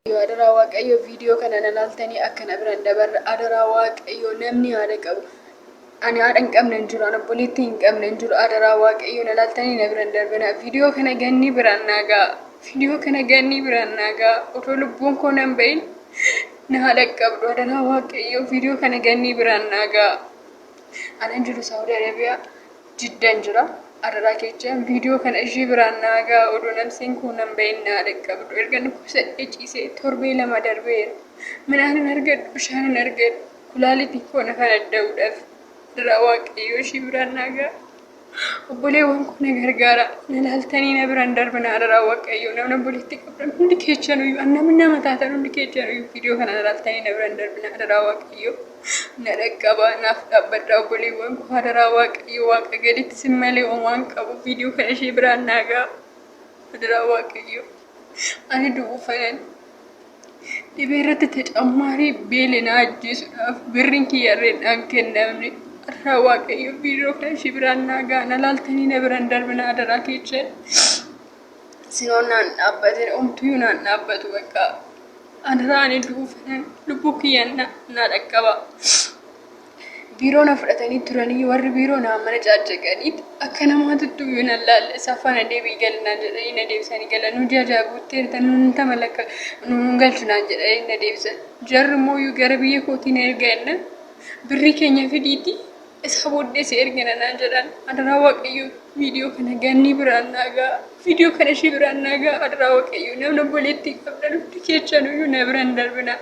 waaqayyo adaraa waaqayyo viidiyoo kana na laaltanii akkana biraan dabarra adaraa waaqayyo namni haadha qabu ani haadha hin qabne hin jiru ani obboleettii hin qabne hin jiru adaraa waaqayyo na laaltanii na biraan darbina viidiyoo kana gannii biraan naagaa viidiyoo kana gannii biraan naagaa otoo lubbuun koo nan bahin Na haa dhaqqabdu adaraa waaqayyoo viidiyoo kana gannii biraan naa ga'a. Anan jiru Saawudi Arabiyaa jiddan jira. Adaraa kecha viidiyoo kana ishii biraan naa ga'a odoo nafsiin koo nan bahin naa dhaqqabdu. Erga dhukkubsadhee ciisee torbee lama darbeera. Midhaan hin argadhu, bishaan hin argadhu. Kulaalitii koo na kan adda'uudhaaf. Adaraa waaqayyoo ishii biraan naa ga'a. Obboleewwan koo na gargaara. Na laaltanii na biraan darbina adaraa waaqayyo. Namni obboleetti qabdan hundi keessan iyyuu namni nama taatan hundi keessan iyyuu viidiyoo kana na laaltanii na biraan darbina adaraa waaqayyo. Na dhaqqabaa naaf dhaabbadha obboleewwan koo adaraa waaqayyo waaqa gaditti sin malee waan qabu viidiyoo kana ishee biraan naagaa adaraa waaqayyo. Ani du'uu fanan Dhibee irratti tacammaari beele na ajjeesuudhaaf birriin kiyyarreen dhaan kennamne irraa waaqayyo biiroo kan ishii biraan naa ga'a na laaltanii na biraan darbina adaraa keechan sinoon naan dhaabbatee omtuyyuu naan dhaabbatu bakka adaraa ani du'uu fedhan lubbuu kiyyan naa dhaqqaba. Biiroo na fudhatanii turanii warri biiroo naa mana caacceqanii akka namaatu du'u na laalle saffaa na deebii galnaan jedhanii na deebisanii galan nu ji'a ja'a guutteerta nuun tama lakka nuun galchu naan jedhanii na deebisan jarri immoo iyyuu gara biyya kootii na erga enna birrii keenya fidiiti isaa booddee si ergina naan jedhan adaraa waaqayyo viidiyoo kana gannii biraan naagaa. Viidiyoo kana ishee biraan naagaa adaraa waaqayyoo namni obboleettii qabdan hundi keechanuyyuu na biraan darbina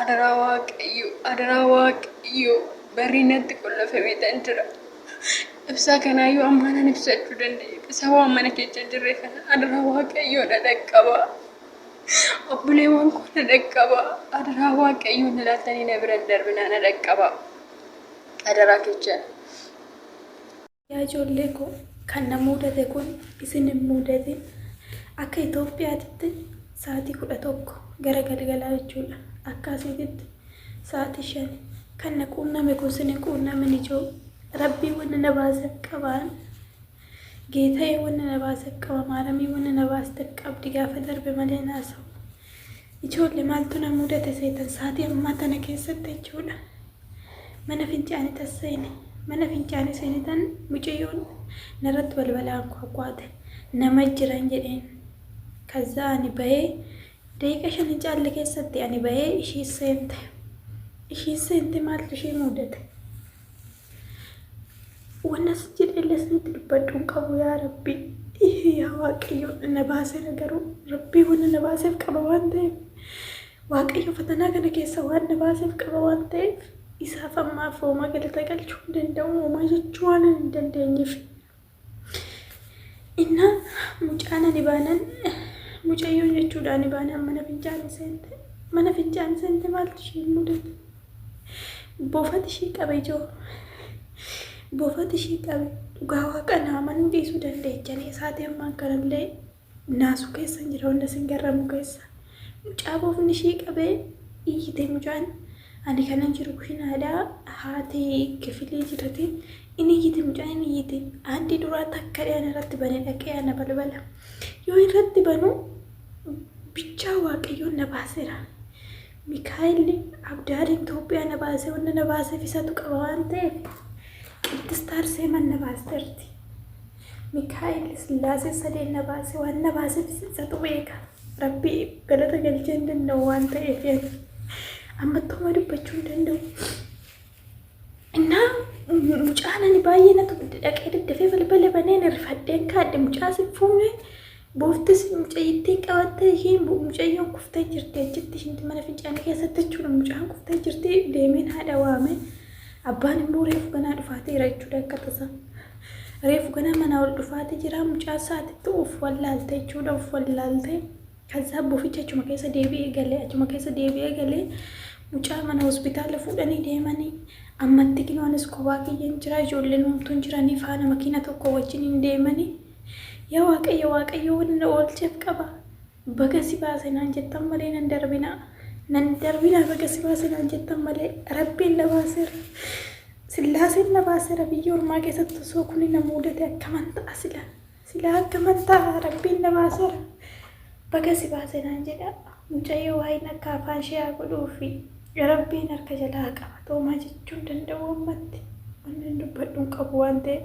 adaraa waaqayyoo adaraa waaqayyoo barrii natti qollafamee tan jira ibsaa kanaayyuu ammaanan ibsachuu danda'e isa waan mana keecha hin jirre kana adaraa waaqayyoo na dhaqqaba obboleewwan koo na dhaqqaba adaraa waaqayyoo na laaltanii na biraan darbina na dhaqqaba adaraa keechan Yaa ijoollee koo kan na muudate kun isin hin muudatin. Akka Itoophiyaatitti sa'aatii 11 gara galgalaa jechuudha. Akka asiititti sa'aatii 5. Kan na quunname kun sin hin quunnamin ijoo. Rabbii wanna na baasef qabaan. Geetayee wanna na baasef qaba maaramii wanna na baastef qabdi gaafa darbe malee hin haasa'u. Ijoolle maaltu na mudate seetan saatii ammaa tana keessatti jechuudha. Mana fincaanitan seene. Mana fincaanii seenetan mucayyoon narratti balbalaa ankwakwaate. Nama jiran jedheen. Kazzaa ani bahee daqiiqa shan hin caalle keessatti ani bahee ishii seente. Ishii seente maaltu ishii mudate? Wanna si jedhelle sinitti dubbadhu hin qabu yaa rabbi. Ihe yaa waaqayyo na baasera garuu rabbii wanna na baaseef qaba waan ta'eef. Waaqayyo fatanaa kana keessa waan na baaseef qaba waan ta'eef isaaf ammaaf hooma galata galchuu hin danda'u homaa jechuu waan hin dandeenyeef. Inna mucaan ani baanan mucayyoo jechuudha ani baanaan mana fincaanii seente. Mana fincaanii seente maaltu ishee mudate? Boofati ishee qabe ijoo. Boofati ishee qabe dhugaa waaqa naamanuu dhiisuu dandeechanii isaatii ammaan kanallee Naasuu keessan jira wanta isin garramu keessa. Mucaa boofni ishii qabee iyyite mucaan. Ani kanan jiru kushinaadha. Haati kifilii jirti. Inni iyyite mucaan inni iyyite. Haaddi duraa takka dhiyaan irratti bane dhaqee ana balbala. Yoo irratti banu bichaa waaqayyoon na baaseera. Mikaa'elli abdaaliin Itoophiyaa na baasee wanta na baaseef isatu qaba waan ta'eef qiddistaar seeman na baasterti. Mikaa'el Sillaasee sadeen na baase waan na baaseefis isatu beeka. Rabbi galata galchee hin danda'u waan ta'eef ani ammattumaa dubbachuu hin danda'u. Innaa mucaan ani baay'ee natu dhaqee daddafee balbala banee na rifadheen kaadhe mucaa sin fuune Booftis mucayyittiin qabattee isheen mucayyoon kuftee jirti achitti isheen mana fincaanii keessatti jechuudha mucaan kuftee jirti deemeen haadha waame abbaan immoo reefu ganaa dhufaateera jechuudha akka tasaa reefu ganaa manaa ol dhufaatee jira mucaa isaatitti of wallaalte jechuudha of wallaalte kasaa boficha achuma keessa deebi'ee galee achuma keessa deebi'ee galee mucaa mana hospitaala fuudhanii deemanii ammatti kinoonis kophaa kiyyan jira ijoolleen homtuun jiranii faana makiina tokko wajjin hin deemanii Yaa Waaqayyo Waaqayyo waan na oolcheef qaba. Baga si baase naan jettan malee nan darbinaa. Nan darbinaa baga si baase naan jettan malee Rabbiin na baaseera. Sillaaseen na baaseera biyya ormaa keessatti osoo kuni na muudate akkaman ta'a sila. Sila akkaman ta'a Rabbiin na baaseera. Baga si baase naan jedha. Mucayyoo waa'een akka afaan ishee haa godhuufi. Rabbiin harka jalaa haa qabatu homaa jechuun danda'u ammatti. Wanni dubbadhu hin qabu waan ta'eef.